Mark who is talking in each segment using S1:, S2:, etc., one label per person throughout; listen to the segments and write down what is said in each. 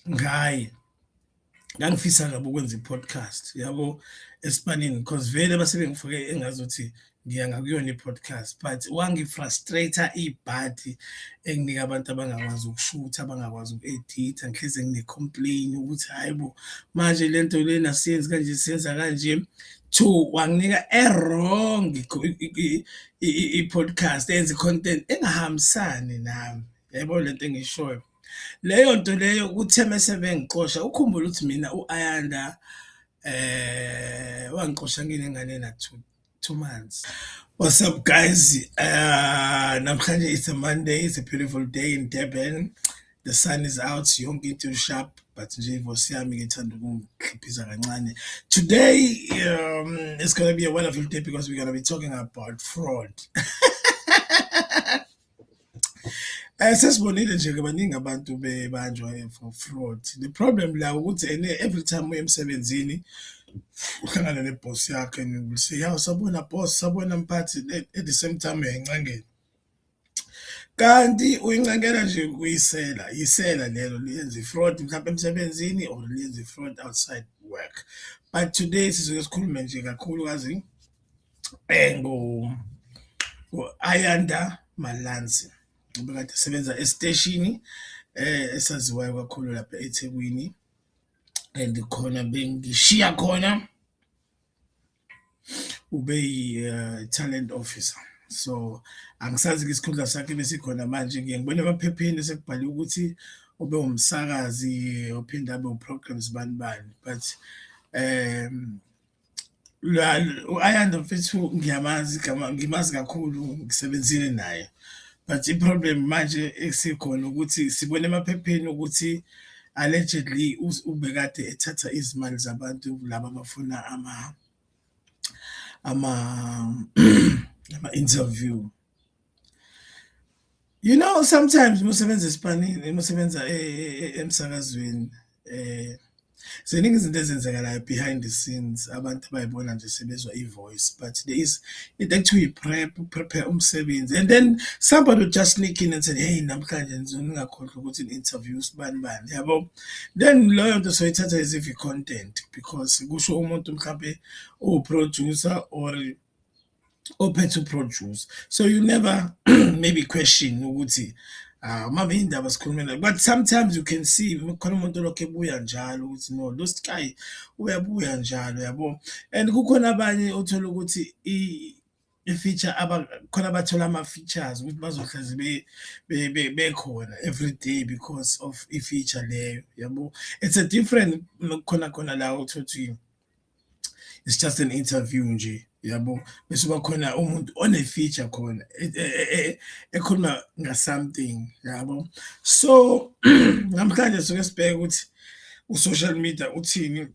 S1: ngaye ngangifisa kabi ukwenza i-podcast yabo esipanini because vele base bengifake engazi ukuthi ngiya ngakuyona i-podcast but wangifrustrate ibhadi enginika abantu abangakwazi ukushutha abangakwazi uku-editha ngihleze ngine-complain ukuthi hhayi bo manje le nto lena siyenzi kanje siyenza kanje two wanginika e-wrong i-podcast enze i-content engahambisani nami yayibona le nto engishoyo leyo nto leyo kuthe mese bengixosha ukhumbula ukuthi mina u-ayanda eh wangixosha nginengane ena two, two months What's up, guys? Uh, namhlanje it's a Monday. It's a beautiful day in Durban. The sun is out. Yonke into sharp, but nje voice yami ngithanda ukungikhiphiza kancane. Today um, it's going to be a wonderful day because we're going to be talking about fraud. Eh sesibonile nje ke baningi abantu bebanjwa for fraud. The problem la ukuthi ene every time uye emsebenzini uhlangana ne boss yakhe and you will say, "Yaw sabona boss, sabona mphathi at the same time uyayincengela." Kanti uyincengela nje kuyisela, yisela lelo liyenza i-fraud mhlawumbe emsebenzini or liyenza i-fraud outside work. But today sizoke sikhulume nje kakhulukazi engu Ayanda Malansi ubekade esebenza esiteshini eh esaziwayo kakhulu lapha eThekwini and khona bengishiya khona ube yi eh, talent officer so angisazi ke isikhundla sakhe besikhona manje ngiye ngibone emaphepheni sekubhale ukuthi ube umsakazi ophinde abe uprograms bani bani but um u-ayanda mfethu ngiyamazi gama ngimazi kakhulu ngisebenzile naye but i-problem manje esikhona ukuthi sibone emaphepheni ukuthi allegedly ubekade ethatha izimali zabantu laba abafuna ama ama ama-interview You know sometimes musebenza esipanini musebenza e, e, e, emsakazweni eh ziningi izinto ezenzekalayo behind the scenes abantu abayibona nje sebezwa i-voice but there is into ekuthiwa i-prep prepare umsebenzi and then somebody would just sneak in and say hey namhlanje nizona ningakhohlwa ukuthi ni-interview sibani bani yabo then loyo nto soyithatha as if i-content because kusho umuntu mhlawumbe uwuproducer or ophethe uproduce so you never maybe question ukuthi ah, uma beyindaba sikhulumela but sometimes you can see khona umuntu olokhu ebuya njalo ukuthi no lo sky uyabuya njalo yabo and kukhona abanye othola ukuthi i-feature khona abathola ama-features ukuthi bazohlezi bekhona every day because of i-feature leyo yabo it's a different khona khona la uthothiwe it's just an interview nje yabo bese bakhona umuntu one-feature khona e, e, e, ekhuluma nga-something yabo so namhlanje suke sibheke ukuthi u-social media uthini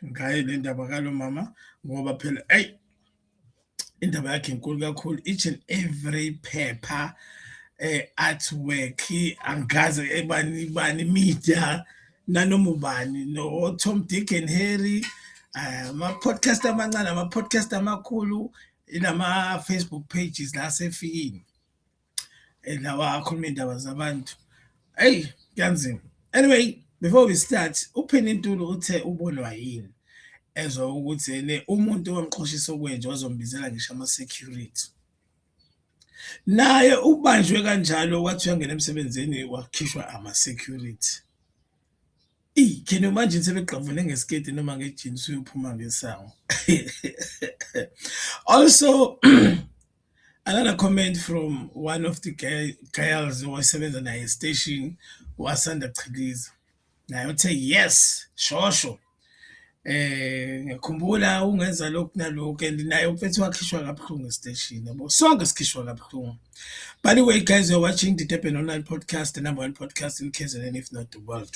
S1: ngaye le ndaba kalo mama ngoba phela eyi indaba yakhe inkulu kakhulu each and every paper eh artwork angazi ebani bani media nanoma ubani no Tom Dick and Harry eh, ama podcast amancane ama podcast amakhulu inama Facebook pages la sefikini Hey, lawa akhuluma iy'ndaba zabantu. Eyi, kuyanzima. Anyway, before we start, uPheni Ntulu uthe ubonwa yini ezwa ukuthi ene umuntu owamxhoshisa okwenje wazombizela ngisho ama-security. Naye ubanjwe kanjalo wathi uyangena emsebenzini wakhishwa ama-security. Eyi, can you imagine sebegqavune ngesiketi noma ngejini usuyophuma ngesango. Also Another comment from one of the girls owayesebenza naye estation wasanda chiliza naye uthe yes shosho eh ngikhumbula ungenza lokhu nalokhu and naye umfethu wakhishwa kabuhlungu estation yabo sonke sikhishwa kabuhlungu by the way guys you're watching the Durban online podcast the number one podcast in KZN if not the world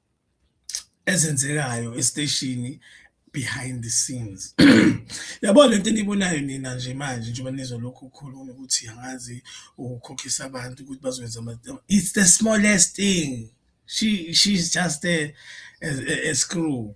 S1: ezenzekayo esiteshini behind the scenes yabo lento enibonayo nina nje manje njengoba nizolokhu ukhuluma ukuthi angazi ukukhokhisa abantu ukuthi bazokwenza it's the smallest thing she she's just a, a, a screw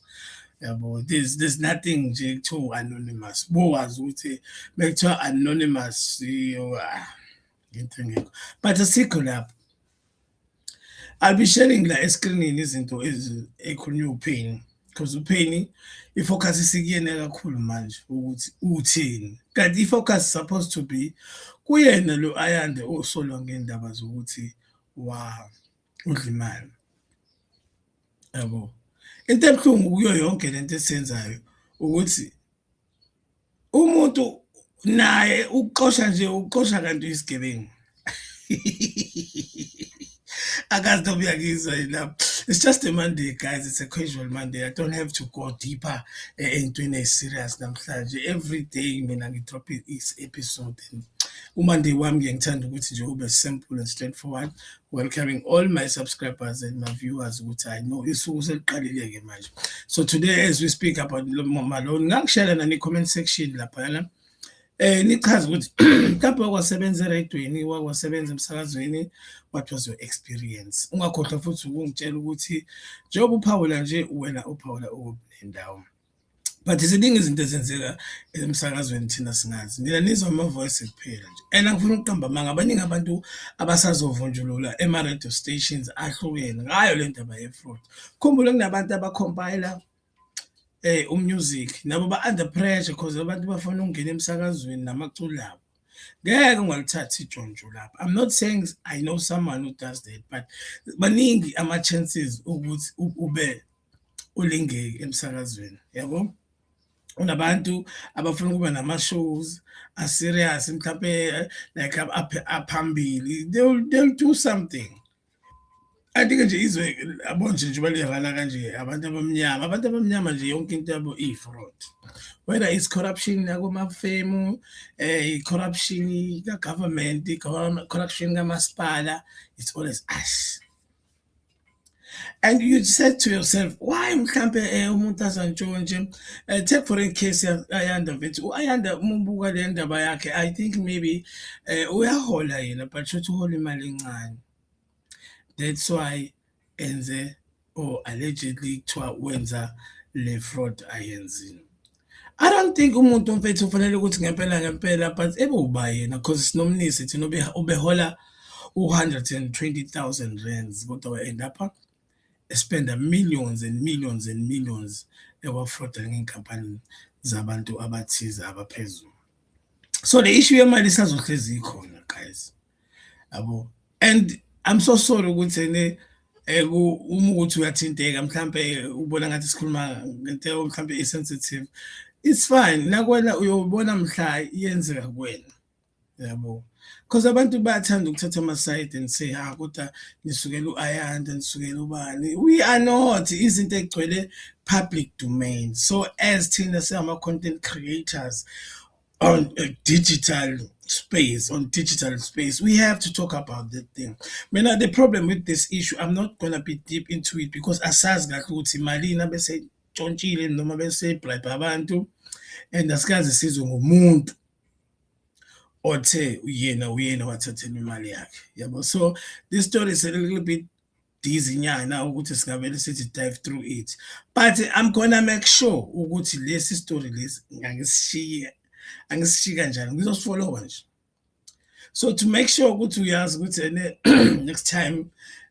S1: yabo there's there's nothing nje kuthiwa anonymous bowazi ukuthi bekuthiwa anonymous yo ah, into engekho but asikho lapho I'll be sharing la escreenini izinto ezikhulunywa uPhini because uPhini ifocus isikuyena kakhulu manje ukuthi uthini kanti ifocus supposed to be kuyena lo Ayande osolwa ngendaba zokuthi wa udla imali yabo into ebuhlungu kuyo yonke lento esiyenzayo ukuthi umuntu naye ukuxosha nje ukuxosha kanti uyisigebengu akazi noma uyakizwa yilapho it's just a monday guys it's a casual monday i don't have to go deeper eh, entweni eyi-serious namhlanje every day mina ngidrophe i-episode and umonday wami ngiyangithanda ukuthi nje ube simple and straightforward Welcoming all my subscribers and my viewers ukuthi I know isuku seliqalile ke manje. So today as we speak about lo mama lo ngangishela nani comment section lapha yana. Eh nichaza ukuthi mhlawumbe wakwasebenza eradweni, wakwasebenza emsakazweni, what was your experience? Ungakhohlwa futhi ukungitshela ukuthi njengoba uphawula nje wena uphawula ukuphi nendawo. but ziningi izinto ezenzeka emsakazweni thina singazi nina nizwa ama-voice kuphela nje and angifuna ukuqamba amanga abaningi abantu abasazovunjulula ema-radio stations ahlukene ngayo le ndaba ye-fraud khumbule kunabantu abakhompayila eh umusic nabo ba under pressure because abantu bafuna ukungena emsakazweni namaculi abo ngeke ungalithathi ijonjo lapho i'm not saying i know someone who does that but baningi ama-chances ukuthi ube ulingeki emsakazweni yabo unabantu abafuna ukuba nama-shows aserious mhlawumpe eh, like aphambili they'll, they'll do something I think nje izwe abonje nje balirana kanje abantu abamnyama abantu abamnyama nje yonke into yabo iyi-fraud whether it's corruption yakomafemu um eh, i-corruption kagovernment i-corruption kamasipala it's always us and you said to yourself why mhlampe eh, umuntu azantshontshe eh, take for in case ayanda mfethu u-ayanda uma ubuka le ndaba yakhe i think maybe eh, uyahola yena but shothi uhola imali encane that's why enze or allegedly kuthiwa wenza le fraud ayenzile I don't think umuntu mfethu ufanele ukuthi ngempela ngempela but ebe uba yena cause sinomnisi thina ubehola u-120,000 rands kodwa we-end up spenda millions and millions and millions ewafroda ngey'nkampani zabantu abathize abaphezulu so le issue yemali isazohlezi ikhona guys yabo and i'm so sorry ukuthi ene eh, uma ukuthi uyathinteka mhlampe ubona ngathi sikhuluma ngento mhlampe i-sensitive it's fine nakwena uyobona mhla iyenzeka kuwena yabo because abantu bayathanda ukuthatha ama-side and say ha ah, kodwa nisukela u-ayanda nisukela ubani we are not izinto egcwele public domain so as thina singama-content creators on a digital space on digital space we have to talk about that thing mina the problem with this issue i'm not gonna be deep into it because asazi kahle ukuthi malini abesejontshile noma besebribe abantu and asikaze sizwe ngomuntu othe uyena uyena wathathela imali yakhe yabo so this story is a little bit dizzy nyana ukuthi singavele sithi dive through it but i'm gonna make sure ukuthi lesi story lesi ngangisishiye angisishiyi kanjani ngizosifolowa nje so to make sure ukuthi uyazi ukuthi ene next time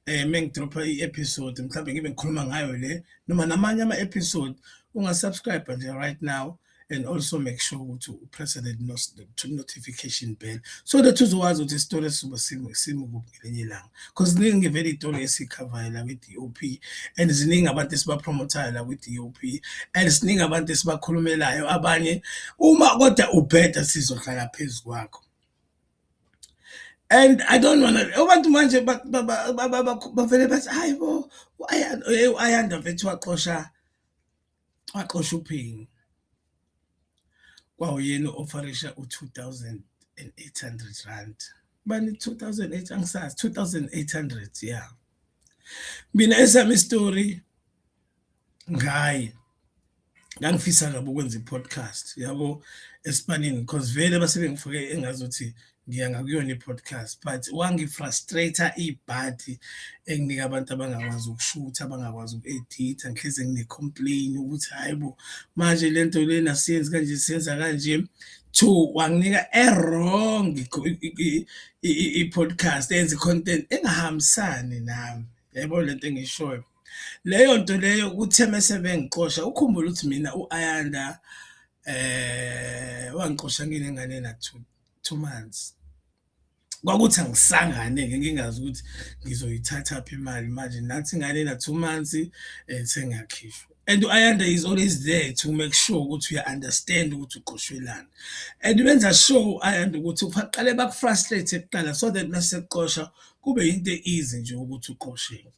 S1: eh mengidropha i-episode mhlawumbe ngibe ngikhuluma ngayo le noma namanye ama-episode ungasubscribe nje right now and also make sure ukuthi upresse the notification bell so that uzowazi ukuthi isitolo esizoba simukuphi ngelinye ilanga because ziningi vele iy'tolo esiyikhavayo la kwi-d o p and ziningi abantu esibapromotayo la kwi-d o p and ziningi abantu esibakhulumelayo abanye uma kodwa ubheda sizohlala phezu kwakho and i don't wanna abantu manje bavele bathi hayi bo ayanda vethu waxosha Waxosha uphenyo kwawuyena ofarisha u-2800 bani 2008 angisazi 2800 ya mina esami story ngaye ngangifisa kabi ukwenza i-podcast yabo esipanini because vele basebengifake engazuthi ngiya ngakuyona i-podcast but wangifrustrate ibhadi enginika abantu abangakwazi ukushutha abangakwazi uku-editha ngihleze ngine-complain ukuthi hhayi bo manje le nto lena siyenzi kanje siyenza kanje two wanginika e-wrong i-podcast enza i-content engahambisani nami yaybo le nto engishoyo leyo nto leyo kuthe mese bengixosha ukhumbula ukuthi mina u-ayanda um eh, wangixosha nginengane nathuba two months kwakuthi angisangane-ke ngingazi ukuthi ngizoyithatha phi imali manje nathi ingane na-two months um eh, sengiyakhishwa and u-ayanda is always there to make sure ukuthi uya-understand ukuthi uqoshwelani and benza sure u-ayanda ukuthi baqale baku-frustrate kuqala so that mase kuqosha kube yinto e-easy nje ukuthi uqosheke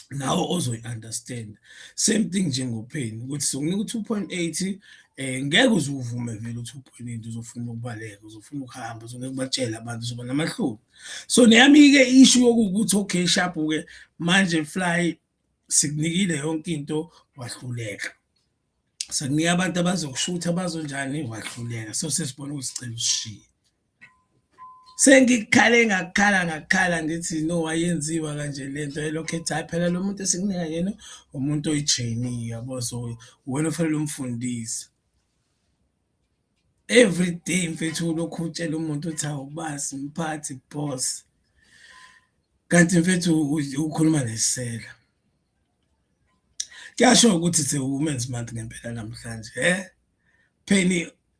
S1: nawe ozoyi-understand same thing njengopheni ukuthi sokunika u-two point eight um eh, ngeke uze uvume vele u-two point eight uzofuna ukubaleka uzofuna ukuhamba uzongeke kubatshele abantu uzoba namahloni so neyami-ke ishu yokukuthi okay shapu-ke manje fly sikunikile yonke into wahluleka sekunika abantu abazokushutha bazonjani wahluleka so sesibona ukuthi sicela usishiye sengikhale ngakhala ngakhala ngithi no wayenziwa kanje le nto elokhu ethi hhayi phela lo muntu esikunika yena umuntu oyi-trainee yabo so wena ufanele umfundise every day mfethu ulokhu utshela umuntu uthi awubasi mphathi boss kanti mfethu ukhuluma nesela kuyasho ukuthi it's a women's month ngempela namhlanje eh pheni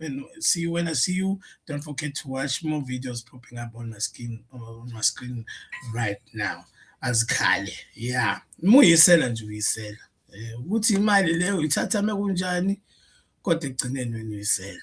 S1: And see you when I see you. Don't forget to watch more videos popping up on my skin on my screen right now. As Kali, yeah. Muyisela nje uyisela. Eh, ukuthi imali leyo ithatha mekunjani kodwa ekugcineni wena uyisela.